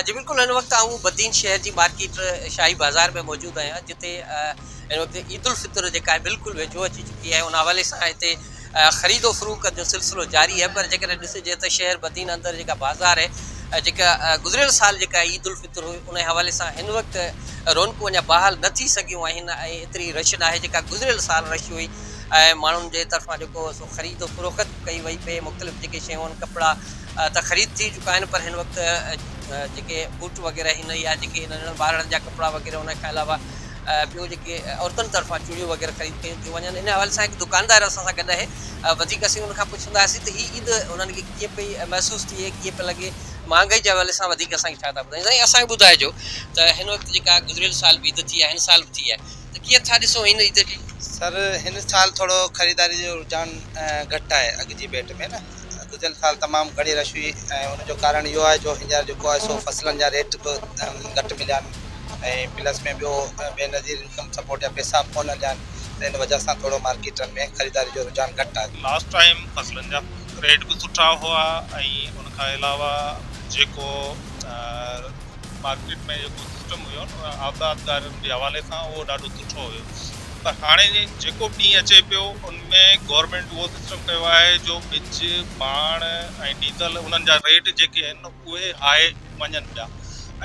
جي بلڪل هن وقت آئون بدين شهر جي مارڪيٽ شاهي بازار ۾ موجود آهيان جتي هن وقت عيد الفطر جيڪا آهي بلڪل ويجهو اچي چڪي آهي ان حوالي سان هتي خريد و فروخت جو سلسلو جاري آهي پر جيڪڏهن ڏسجي ته شهر بدين اندر جيڪا بازار آهي جيڪا گذريل سال جيڪا عيد الفطر هئي ان حوالي سان هن وقت رونقون اڃا بحال نه ٿي سگهيون آهن ۽ ايتري رش ناهي جيڪا گذريل سال رش هئي ۽ ماڻهن جي طرفان جيڪو خريد و فروخت به ڪئي وئي پئي مختلف جيڪي شيون آهن ڪپڙا ته خريد ٿي چڪا آهن پر هن وقت جيڪي بوٽ وغيره آهن يا جيڪي ننڍڙن ٻارڙن جا ڪپڙا وغيره ان کان علاوه ٻيون جيڪي عورتن طرفان چوڙيون وغيره خريد ڪيون ٿيون وڃن ان حوالي سان هڪ دڪاندار اسان سان گڏ آهي وڌيڪ اسين ان کان پڇنداسين ته هي عيد انهن کي ڪيئن پئي محسوس ٿئي ڪيئن پئي لڳي مهانگائي جي حوالي سان وڌيڪ اسان کي ڇا ٿا ٻڌائين سائين اسان کي ٻڌائجو ته هن وقت جيڪا گذريل سال به عيد ٿي آهي هن سال به ٿي آهي ته ڪيئن ٿا ڏسو هن عيد کي؟ سر هن سال ٿورو خريداري جو رجحان گهٽ آهي اڳ جي ڀيٽ ۾ نه گذريل سال تمام گهڻي رش هئي ۽ ان جو ڪارڻ اهو آهي جو هينئر جيڪو آهي سو فصلن جا ريٽ به گهٽ مليا آهن ۽ پلس ۾ ٻيو بي نظير انڪم سپورٽ جا پئسا به ڪونه هليا آهن ته ان وجه سان ٿورو مارڪيٽن ۾ خريداري جو رجحان گهٽ آهي. لاسٽ ٽائيم فصلن جا ريٽ به سٺا هئا ۽ ان کان علاوه جيڪو مارڪيٽ ۾ جيڪو سسٽم هيو نه آبادگارن جي حوالي سان اهو ڏاڍو سٺو هيو پر هاڻي جيڪو به ڏينهن اچي پيو ان ۾ گورنمينٽ اهو سسٽم ڪيو آهي جو ٻج پاڻ ۽ ڊيزل انهن جا ريٽ جيڪي آهن اهي هاء وڃن پيا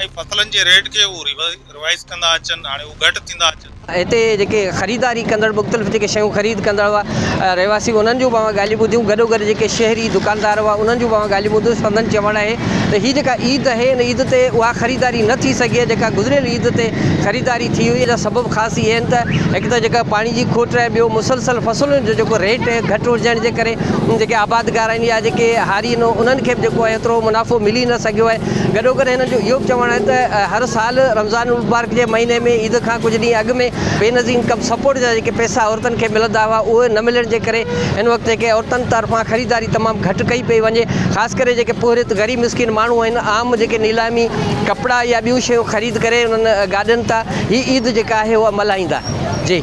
۽ فصلن جي ريٽ کي اهو ريوائز ڪندا اچن هاڻي اهو گهٽ ٿيندا اچن هتي جيڪي خريداري ڪندڙ مختلف جيڪي شيون خريد ڪندڙ هئا رهواسي انهن جون به اوهان ڳالهيون ٻڌيون گڏوگڏ جيڪي شهري دڪاندار هئا انهن جون به اوهان ڳالهيون ٻڌيون سندن چوڻ آهي ته هي جيڪا عيد آهي ان عيد تي اها خريداري نه ٿي سگهي آهي جيڪا گذريل عيد تي خريداري ٿي هئي جا سبب خاص اهي آهن ته هڪ ته جيڪا پاڻي جي کوٽ آهي ٻيو مسلسل فصلن جو جيڪو ريٽ گهٽ هجڻ جي ڪري جيڪي آبادگار آهن يا جيڪي هاري آهن انهن کي به جيڪو آهي ايترو منافعو ملي نه سگهيو آهي گڏوگڏ هنن جو اهو به چوڻ آهي ته هر سال رمضان المبارڪ جي مهيني ۾ عيد کان ڪجهه ڏينهن اڳ ۾ بينظير ڪم سپورٽ جا جيڪي پئسا عورتن کي ملندا هئا اهي نه ملڻ جي ڪري هن وقت جيڪي عورتن طرفان خريداري تمام گهٽ ڪئي پئي وڃي خاص ڪري جيڪي پورهيت غريب مسڪين ماڻهو آهن عام جيڪي نيلامي ڪپڙا يا ٻيون شيون خريد ڪري انهن گاڏين تان هي عيد جيڪا آهي اها ملهائيندا جي.